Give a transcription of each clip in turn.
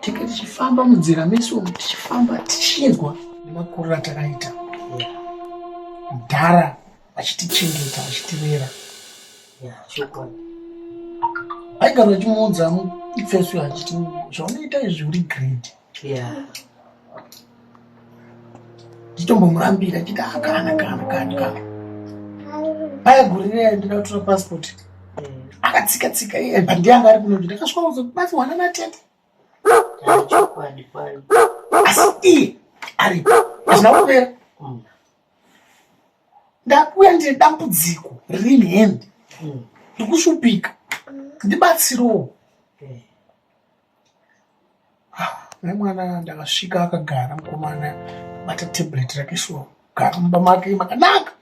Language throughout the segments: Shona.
tenge tichifamba munzira mesu umu tichifamba tichinzwa nemakuriro atakaita mudhara achitichengeta achitirera aigara achimuudza ifesu achiti zvaunoita izvi uri grade nditombomurambira chiti akana kana kani kana paya guri riya ndida kutora passport akatsika tsika iye but ndiye anga ari kuno ndi ndakasvika kuzo basi wana na tete asi iye ari azvina kupera mm. ndakuya ndine dambudziko riri in hand mm. ndikushupika ndibatsirowo nemwana ndakasvika akagara mukomana bata tablet rake shuwa kugara mumba make makanaka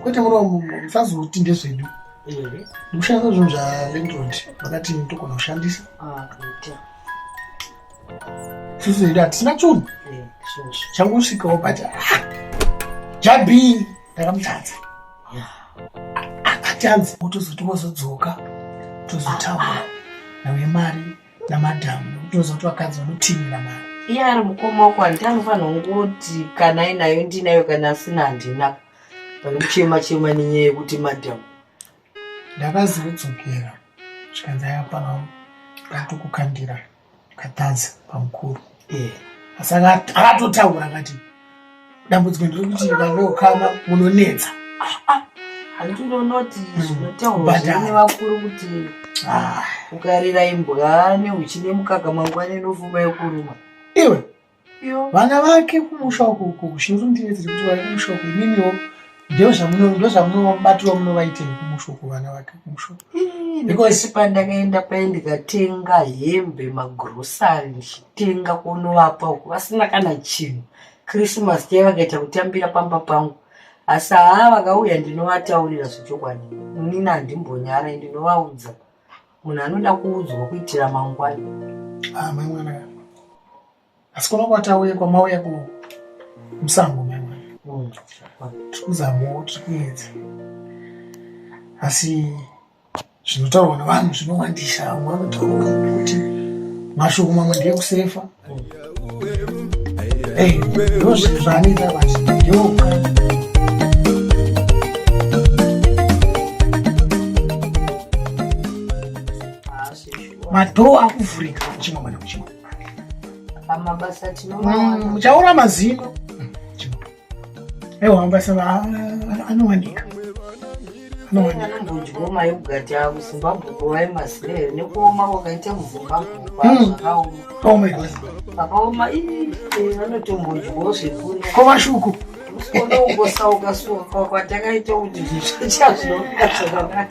kwete muromo musazoti ndezvedu ndikushandisa zvinhu zvalandrod vakati ndogona kushandisa ah, sisi hatisina chunhu changosvikawo bata ah, jabii ndakamutadza akati anzi otozoti wozodzoka tozotaura ah, ah. nawe mari namadhamu otozoti vakadzi vanotinira mari iye ari mukoma wako handiti anofanira kungoti kana ainayo ndinayo kana asina handina pane kuchema chema nenyaya yekuti madhamu ndakazodzokera zvikanzi ayapaa ndatokukandira akatadza pamukuru eh. asi akatotaura akati dambudziko ndiri kuti vangokama munonetsa handinonoti mm. zvinotaurwa zvine vakuru kuti ah. ukarira imbwa neuchine mukaka mangwana inofuma yokuruma iwe vana vake kumusha uko uko zhinji ndiye dziri kuti vari kumusha uko imimiwo ndozvamunobatiro munovaitei kumusha uko vana vake kumusha because pandakaenda paye ndikatenga hembe magrosari ndichitenga kunovapa uko vasina kana chinhu christmas day vakaita kutambira pamba pangu asi haa vakauya ndinovataurira zvechokwadi inini handimbonyare ndinovaudza munhu anoda kuudzwa kuitira mangwani ah, mai mwana asi kuno kwatauye kwamauya ku musango mai mwana hmm. tiri kuzamawo tiri kuedza asi zvinotaurwa nevanhu zvinowandisa vamwe vanotaura kuti mashoko mamwe ndeyekusefa Hey, madhoo akuvhurika kuchimwa mwana kuchimwa muchaura mazino aiwa ambasada anowanika anongodyooma yogati avo zimbabwe kuvaye mazire here nekuoma kwakaita muzimbabwe kwaakaoma akaoma vanotombodyowo zvekuri kovashuku usikonongosauka suka kwatakaita kuti zvichazvinoaa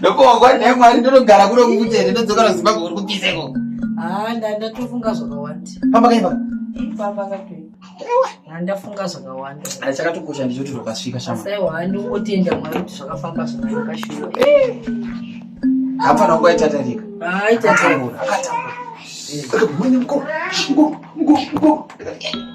ndopowa naye mwari ndonogara kuno kukuti here ndodzoka nozimbabwe uri kupisa iko haa ah, ndatofunga zvakawanda pamba kaipa ipamba katoipa handafunga zvakawanda ah, chakatokosha ndichoti rokasvika shamaiwa handingotenda mwari kuti zvakafamba zvakanaka shuwa hapana kwaita tarika aitaaatambura ah, akatambura eh.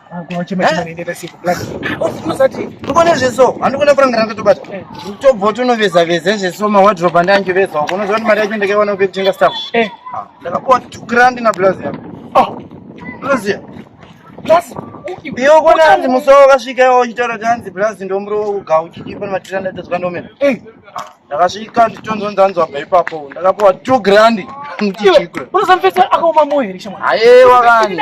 ndikone zveso handikone kurangana ndotobata tobva tonoveza veza zveso mawadrop andi anjoveza wako unoziva kuti mari yacho ndakaiwana kupe kutenga staff ndakapuwa tukrandi nablazi yako blazi blazi iwe kona hanzi musowa wakasvika iwa uchitaura kuti hanzi blazi ndomuro uga uchidipa nematira ndatadzwa ndomena ndakasvika nditonzonzi anzwa bva ipapo ndakapuwa two grandi ndichiikura unosamfesa akaoma moyo here shamwari ayewa kani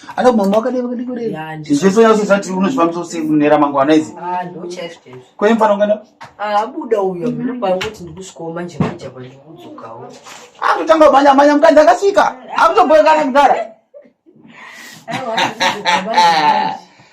Ana mama wakadai vakadai kudai. Zvese yose zati unozvifambisa usiku kunera mangwana izi. Ah, ndo chaish chaish. Kwa hiyo mfano ngana? Ah, abuda uyo mimi kwa kuti ndikusvikawo manje manje kwa ndikudzokawo. Ah, kutanga manya manya mkandi akasvika. Akutoboyekana kudara.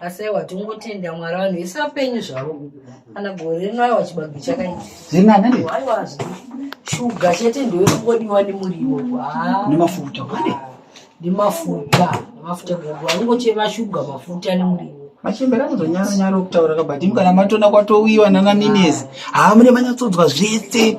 asi aiwa tingotenda mwari vanhu vese vapenyu zvavo kana gore rino aiwa chibage chakaiaiwa shuga chete ndoyekungodiwa nemuriwo nemafuta nemafuta nemafuta gogo anongochema shuga mafuta nemuriwo machembera anozonyara nyara okutaura kabati mukana matona kwatowiwa nana minezi haa mune manyatsodzwa zvese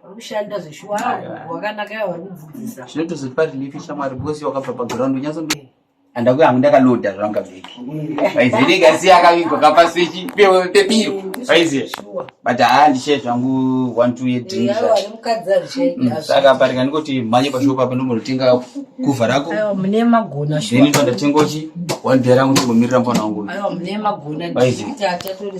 Kushanda zveshuwa wakanaka yawa kudzidzisa. Zvinoto zvipa relief shamwari because wakabva pa ground unyaso ndi. Anda kuya ndaka loader zvanga veki. Aizi ndi gasi yakavigwa kapa switch pewe pepiro. Aizi. But haa ndishe zvangu 1 2 year drink. Yawa mukadza zve. Mm, saka parika ndikoti manye pa shop apa ndomotenga kuva rako. Aiwa mune magona shuwa. Ndini ndotengochi. Wandera kuti mumirira mfana wangu. Aiwa mune magona. Aizi. Kuti atatore